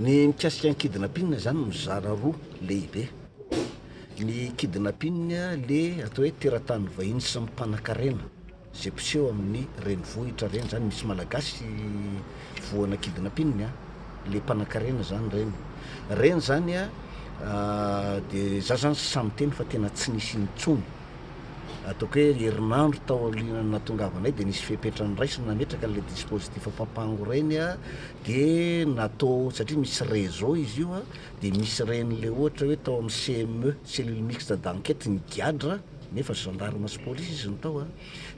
Ny mikasika ny kidnapping zany mizara roa lehibe, ny kidnapping le atao hoe teratany vahiny sy ny mpanakarena Ze mpiseho amin'ny renivohitra reny zany misy malagasy voana kidnapping a, le mpanakarena zany reny reny zany a, de za zany tsy sahy miteny fa tena tsy nisy intsony, ataoko hoe herinandro taorian'ny nahatongavanay de nisy fepetra niraisina nametraka an'le dispositif papango reny a, de natao satria misy réseau izy io a, de misy reny le ohatra hoe tao amin'ny CME, cellule mixte d'enquête, ny gadra, Nefa gendarme sy police izy no tao a!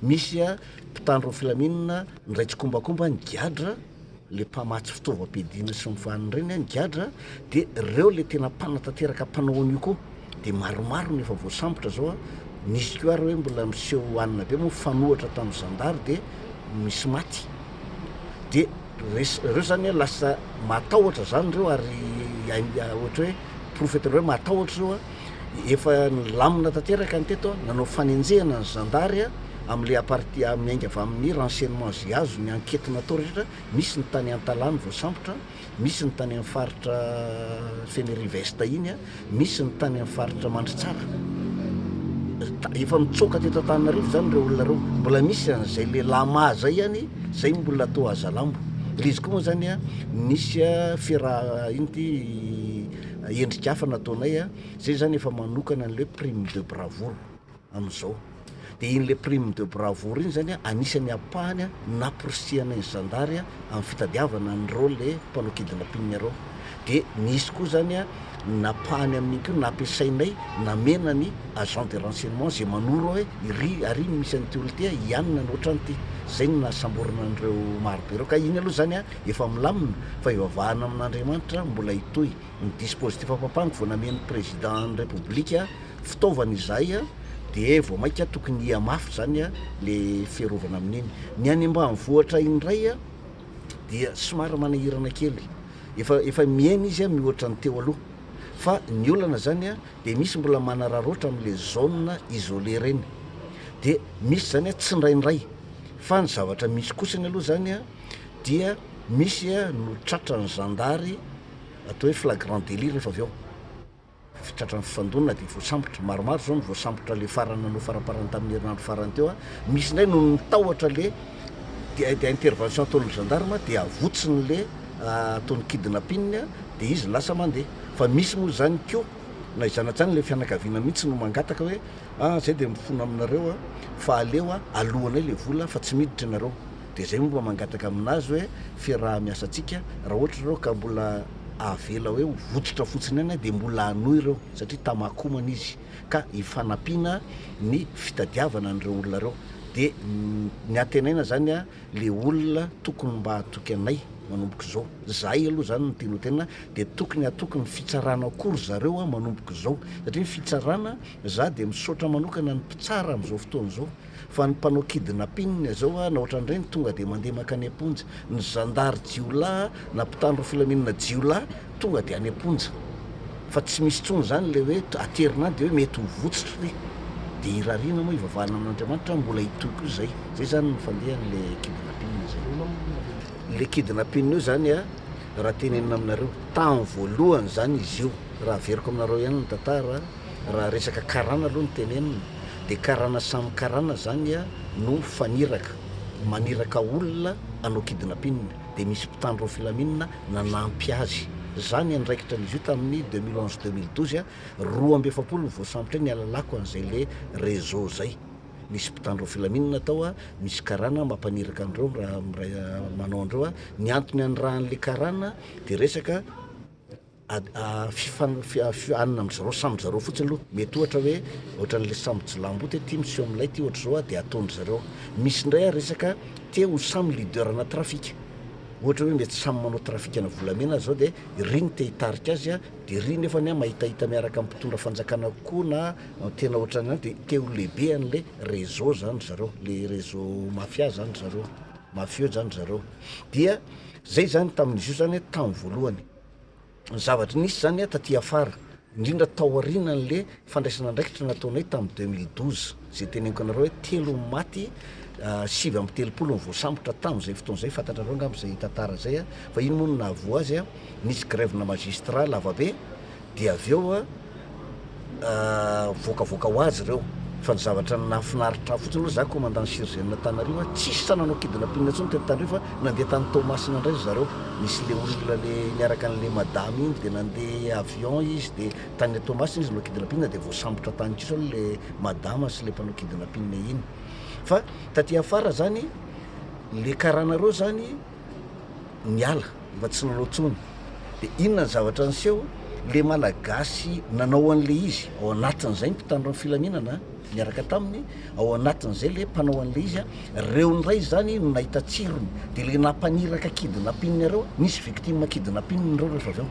Misy a mpitandro ny filaminana nindray tsikombakomba ny gadra le mpamatsy fitaovam-piadiana sy ny vaniny ireny a ny gadra de reo le tena mpanatanteraka mpanao an'io koa de maromaro no efa voasambotra zao a! Nisy ko ary hoe mbola miseho anina be moa mifanohatra tamin'ny zandary de misy maty de res reo zany a lasa matahotra zany reo ary hain ohatra hoe profetra hoe matahotra reo a! efa nilamina tanteraka ny teto, nanao fanenjehana ny zandary amin'ilay aparti miainga avy amin'ny renseignement izay azo ny ankety natao rehetra, misy ny tany Antalano voasambotra, misy ny tany amin'ny faritra Fenerive-Est iny, misy ny tany amin'ny faritra Mandritsara. Efa mitsoaka teto Antananarivo izany ireo olona ireo, mbola misy an'izay le lama zay ihany, zay mbola toa azalambo. Le izy koa moa zany nisy fiaraha iny ty endrika hafa nataonay a, zay zany efa manokana an'le prime de bravoure amin'izao, dia iny le prime de bravoure iny zany a anisan'ny ampahany naporisihanay ny zandary a amin'ny fitadiavana an'ireo le mpanao kidnapping ireo, dia nisy koa zany a napahany amin'iny koa nampiasainay namena ny agent de renseignement izay manoro hoe iry ary misy an'ity olona ity a hianina ny ohatran'ity, zay no nahasamborina an'ireo maro be ireo, ka iny aloha zany a. efa milamina fa ivavahana amin'Andriamanitra mbola hitohy ny dispositif ampango vao namen'ny président ny république fitaovana izay de vao maika tokony hiha mafy zany le fiarovana amin'iny ny any ambanivohitra indray dia somary manahirana kely efa efa mihena izy mihoatra ny teo aloha fa ny olana zany de misy mbola manararaotra amle zone isolé reny de misy zany tsindraindray fa ny zavatra misy kosany aloha zany dia misy no tratran'ny zandary atao hoe flagrant délit rehefa avy eo tratran'ny fifandonana dia voasambotra, maromaro izao no voasambotra le farany nanao faramparany tamin'ny herinandro farany teo a, misy indray no nitahotra le dia dia intervention ataon'ny gendarme dia avotsiny le ataon'ny kidnapping a dia izy lasa mandeha fa misy moa izany koa na izany hatrany le fianakaviana mihitsy no mangataka hoe ah zay dia mifona aminareo a fa aleo a aloanay le vola fa tsy miditra ianareo Dia izay moa mba mangataka amin'azy hoe fiaraha-miasantsika, raha ohatra ireo ka mbola avela hoe ho vototra fotsiny ihany dia mbola hanohy ireo satria Tamako omana izy ka hifanampiana ny fitadiavana an'ireo olona ireo. Dia ny antenaina izany ilay olona tokony mba hatoky anay manomboka izao. Izahay aloha izany no tianao tenenina dia tokony hatoky ny fitsarana koa ry zareo manomboka izao satria ny fitsarana, izaho dia misaotra manokana ny mpitsara amin'izao fotoana izao. Fa ny mpanao kidnapping zao an ohatran'ireny tonga dia mandeha mankany am-ponja, ny zandary jiolahy na mpitandro filaminana jiolahy tonga dia any am-ponja, fa tsy misy intsony izany ilay hoe aterina any dia hoe mety ho votsotro ry, dia hirariana moa hivavahana amin'Andriamanitra an mbola hitohy koa izay, izay izany no fandehan'ilay kidnapping izay. Ilay kidnapping io izany an, raha tenenina aminareo, tamin'ny voalohany izany izy io, raha averiko aminareo ihany ny tantara, Raha resaka karana aloha no tenenina dia karana samy karana zany a no mifaniraka, maniraka olona hanao kidnappine dia misy mpitandro ny filaminana nanampy azy. Za ny andraikitra an'izy io tamin'ny deux mille onze-deux mille douze a, roa amby efapolo no voasambotra eo, nihalalako an'izay le réseau zay. Misy mpitandro ny filaminana tao a, misy karana mampaniraka an'ireo miray miray manao an'ireo a, ny antony anirahan'le karana dia resaka. fifaninana amin-dry zareo samy zareo fotsiny aloha, mety ohatra hoe ohatran'ilay samy jiolahamboto hoe ty miseho amin'ilay ity ohatra izao dia ataon-dry zareo, misy indray ary resaka te ho samy leader ana trafika, ohatra hoe mety samy manao trafikana volamena aza zao dia iry no te hitarika azy a, dia iry nefany a mahitahita miaraka amin'ny mpitondra fanjakana kokoa na tena ohatran'ny izany dia te ho lehibe an'ilay réseau zany ry zareo, le réseau mafia zany ry zareo, mafieux zany ry zareo, dia zay zany tamin'izy io zany tamin'ny voalohany, ny zavatra nisy zany taty afara indrindra tao aorianan'le fandraisana andraikitra nataonay tamin'ny deux mille douze zay teneniko anareo hoe telo ny maty sivy amby telopolo ny voasambotra tamin'izay fotoana izay fantatrareo angamba izay tantara izay a fa iny moa no nahavoa azy a nisy grève-na magistrat lavabe dia avy eo a mivoakavoaka ho azy ireo fa ny zavatra nahafinaritra ahy fotsiny aloha za commandant surgent na tany Riva tsisy sa nanao kidnapping intsony teto tany Riva fa nandeha tany Toamasina indray ry zareo nisy le olona le niaraka anle madama iny de nandeha avion izy de tany Toamasina izy no kidnapping de voasambotra tany kosa aloha le madama sy le mpanao kidnapping iny fa taty afara zany le karana reo zany niala mba tsy nanao tsony de inona ny zavatra niseho le malagasy nanao an'le izy ao anatin'izay ny mpitandro ny filaminana miaraka taminy ao anatin'izay le mpanao an'le izy a reo ny ray zany no nahita tsirony de le nampaniraka kidnapping areo nisy victime kidnapping reo rehefa avy eo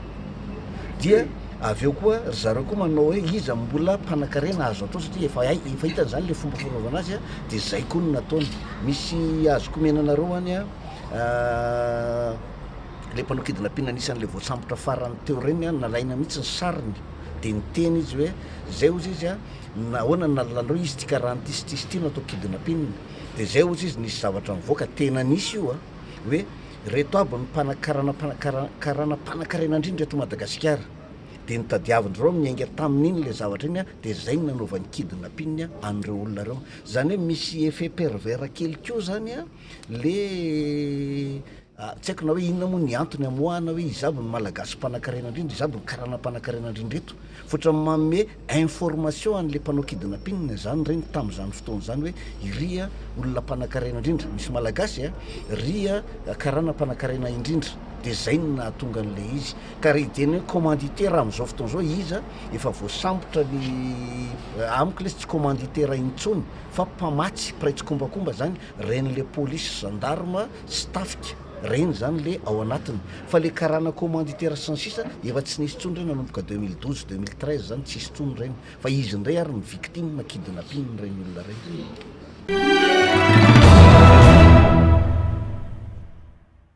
dia avy eo koa ry zareo koa manao hoe iza mbola mpanakarena azo atao satria efa hay efa hitany zany le fomba fanaovana azy a de zay koa no nataony misy azo komenanareo any a ilay mpanao kidnapping anisan'ilay voasambotra farany teo ireny an, nalaina mihitsy ny sariny dia niteny izy hoe zay ozy izy a nahoana ny nalalanareo izy ity karaha an'ity sy ity sy ity no atao kidnapping dia zay ozy izy nisy zavatra nivoaka tena nisy io a hoe reto aby ny mpanakarana mpanakara- karana mpanankarena indrindra eto Madagasikara dia nitadiavin-dry ireo niainga tamin'iny ilay zavatra iny a dia zay no nanaovany kidnapping an'ireo olona ireo, zany hoe misy effet pervers kely koa zany an. Le tsy haiko na hoe inona moa ny antony amoahana hoe iza avy no malagasy mpanankarena indrindra, iza avy no karana mpanankarena indrindra eto. Fa ohatran'ny manome information an'le mpanao kidina mpinina zany ireny tamin'izany fotoana izany hoe iry a olona mpanankarena indrindra, misy malagasy a, ry a karana mpanankarena indrindra, de zay no nahatonga an'le izy. Ka raha hijery ny hoe commanditaire amin'izao fotoana izao iza, efa voasambotra ny, amiko lesy tsy commanditaire intsony fa mpamatsy, mpiray tsikombakomba zany Reny le polisy, gendarme sy tafika reny zany le ao anatiny fa le karana commanditaire sy ny sisa efa tsy nisy tsony reny nanomboka deux mille douze, deux mille treize zany tsisy tsony reny fa izy ndray ary no victime kidnapping reny olona reny.